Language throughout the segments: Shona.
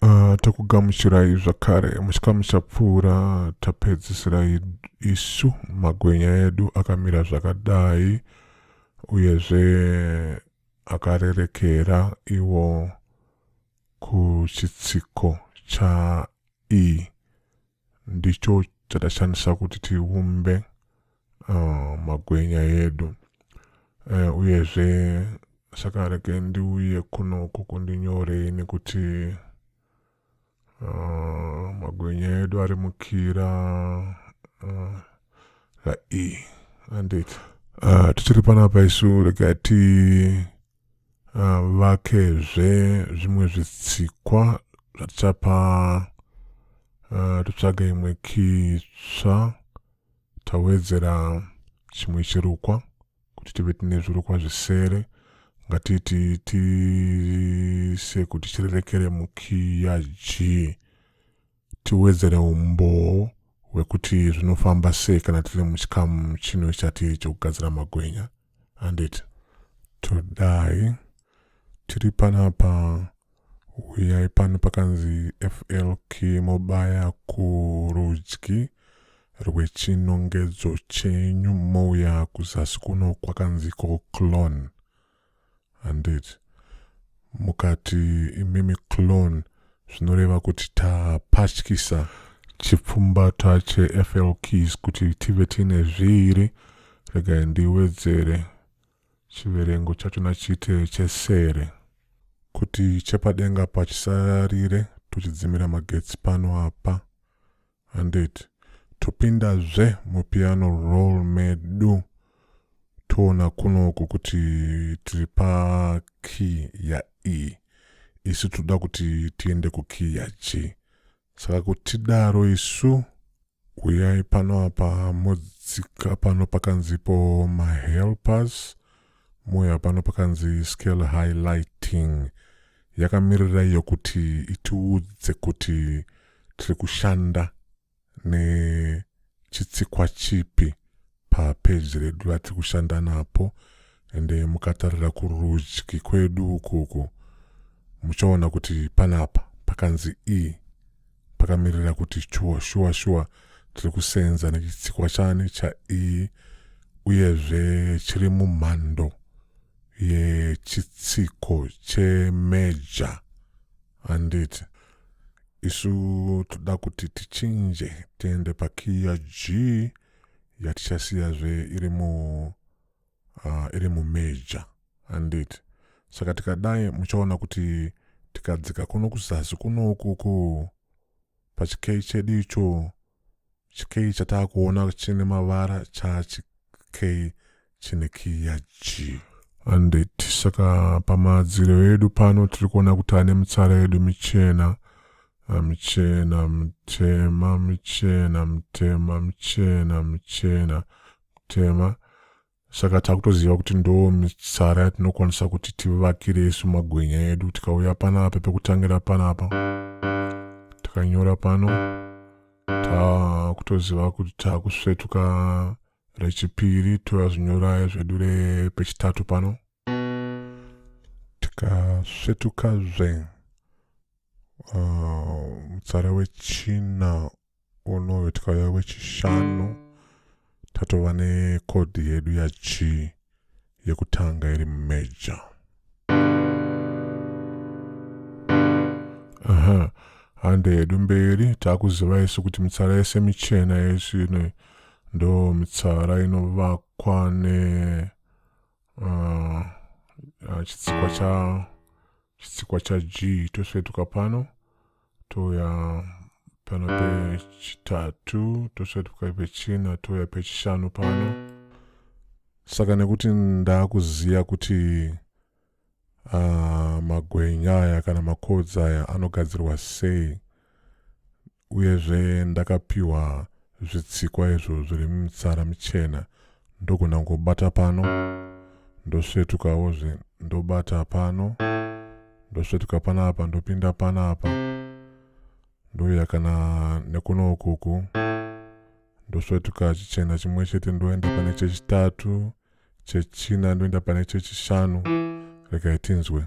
Uh, takugamuchirai zvakare muchikamu chapfuura tapedzisira isu magwenya edu akamira zvakadai uyezve akarerekera iwo kuchitsiko cha e ndicho chatashandisa kuti tiumbe uh, magwenya edu uh, uyezve saka rege ndiuye kunoku kundinyorei nekuti uh, magwenya edu ari mukira uh, rae anditi uh, tichiri panapa isu rega ti Ah, vakezve zvimwe zvitsikwa zvatichapa ah, totsvaga imwe kitsva tawedzera chimwe chirukwa kuti tive tine zvirukwa zvisere ngatiti tiise kuti chirerekere mukiya g tiwedzere umboo hwekuti zvinofamba sei kana tiri muchikamu chino chatiri chokugadzira magwenya handiti todai tiri panapa huyai pano pakanzi flk mobaya kurudyi rwechinongedzo chenyu mouya kuzasi kuno kwakanzi ko clone Handiti mukati imimi clone zvinoreva kuti tapatyisa chipfumbata cheFL Keys kuti tive tiine zviiri. Regai ndiwedzere chiverengo chacho nachite chesere. Kuti chepadenga apa chisarire tochidzimira magetsi pano apa. Handiti topinda zve mupiano roll medu toona kunoku kuti tiri pa key ya E isu toda kuti tiende ku key ya G saka kutidaro isu uyai pano apa modzika pano pakanzipo ma helpers Moyo hapana pakanzi scale highlighting yakamirira iyo kuti itiudze kuti tiri kushanda nechitsikwa chipi papeji redu vatiri kushanda napo ende mukatarira kurudyi kwedu ukuku muchaona kuti panapa pakanzi e pakamirira kuti shuwa shuwa shuwa tiri kusenza nechitsikwa chani chaiyi uyezve chiri mumhando yechitsiko chemeja handiti isu toda kuti tichinje tiende pakiya g yatichasiyazve iri mu uh, iri mumeja handiti saka tikadai muchaona kuti tikadzika kuno kuzasi kuno ukuku pachikei chedu icho chikei chataakuona chine mavara chachikei chine kiya g handiti saka pamadziro edu pano tiri kuona kuti ane mitsara yedu michena michena mutema michena mutema michena michena mutema saka takutoziva kuti ndo mitsara yatinokwanisa kuti tivakire isu magwenya edu tikauya panapa pekutangira panapa takanyora pano takutoziva kuti takusvetuka rechipiri toya zvinyoraya zvedu repechitatu pano tikasvetukazve uh, mutsara wechina unoyo tikauya wechishanu tatova nekodhi yedu yachi yekutanga iri major aha hande yedu mberi taakuziva isu kuti mitsara yese michena yesu ino ndo mitsara inovakwa ne uh, chitsikwa cha chitsikwa cha g tosvetuka pano touya pano pechitatu tosvika tikai pechina touya pechishanu pano saka nekuti ndaakuziva kuti uh, magwenya aya kana makodzi aya anogadzirwa sei uyezve ndakapiwa zvitsikwa izvo zviri mumitsara michena ndogona kungobata pano ndosvetukawo zve ndobata pano ndosvetuka panapa ndopinda panapa ndouya kana nekuno ukuku ndosvetuka chichena chimwe chete ndoenda pane chechitatu chechina ndoenda pane chechishanu regai tinzwe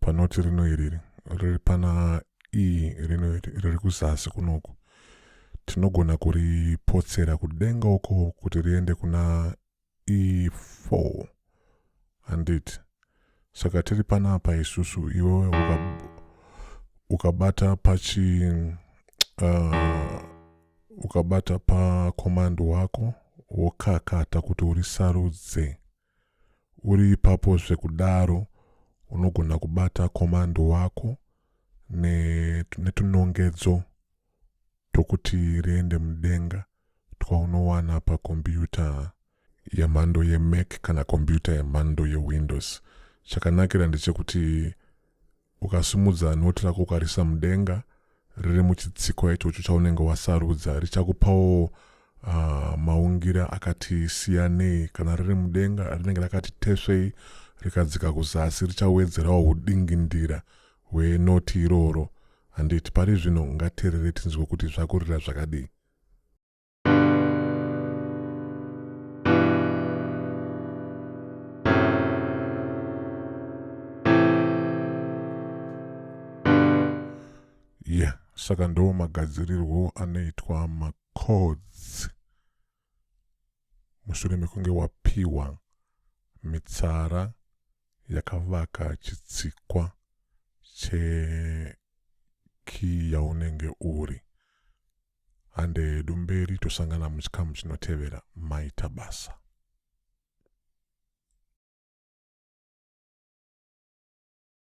panoti rino iriri riri pana e rino iri riri kuzasi kunoku tinogona kuripotsera kudenga uko kuti riende kuna e4 handiti saka tiri panapa isusu iwewe uka, ukabata pachi uh, ukabata pakomandi wako wokakata kuti urisarudze Uri ipapo zvekudaro unogona kubata komando wako netunongedzo tokuti riende mudenga twaunowana pakombiyuta yemhando yemac kana kombiyuta yemhando yewindows chakanakira ndechekuti Ukasimudza noti rako ukarisa mudenga riri muchitsikwa ichocho chaunenge wasarudza richakupawo uh, maungira akati siyanei. Kana riri mudenga rinenge rakati tesvei rikadzika kuzasi richawedzerawo hudingindira hwenoti iroro handiti pari zvino ngaterere tinzwe kuti zvakurira zvakadii yeah saka ndo magadzirirwo anoitwa macods mushure mekunge wapiwa mitsara yakavaka chitsikwa chekii yaunenge uri Hande hedu mberi tosangana muchikamu chinotevera maita basa.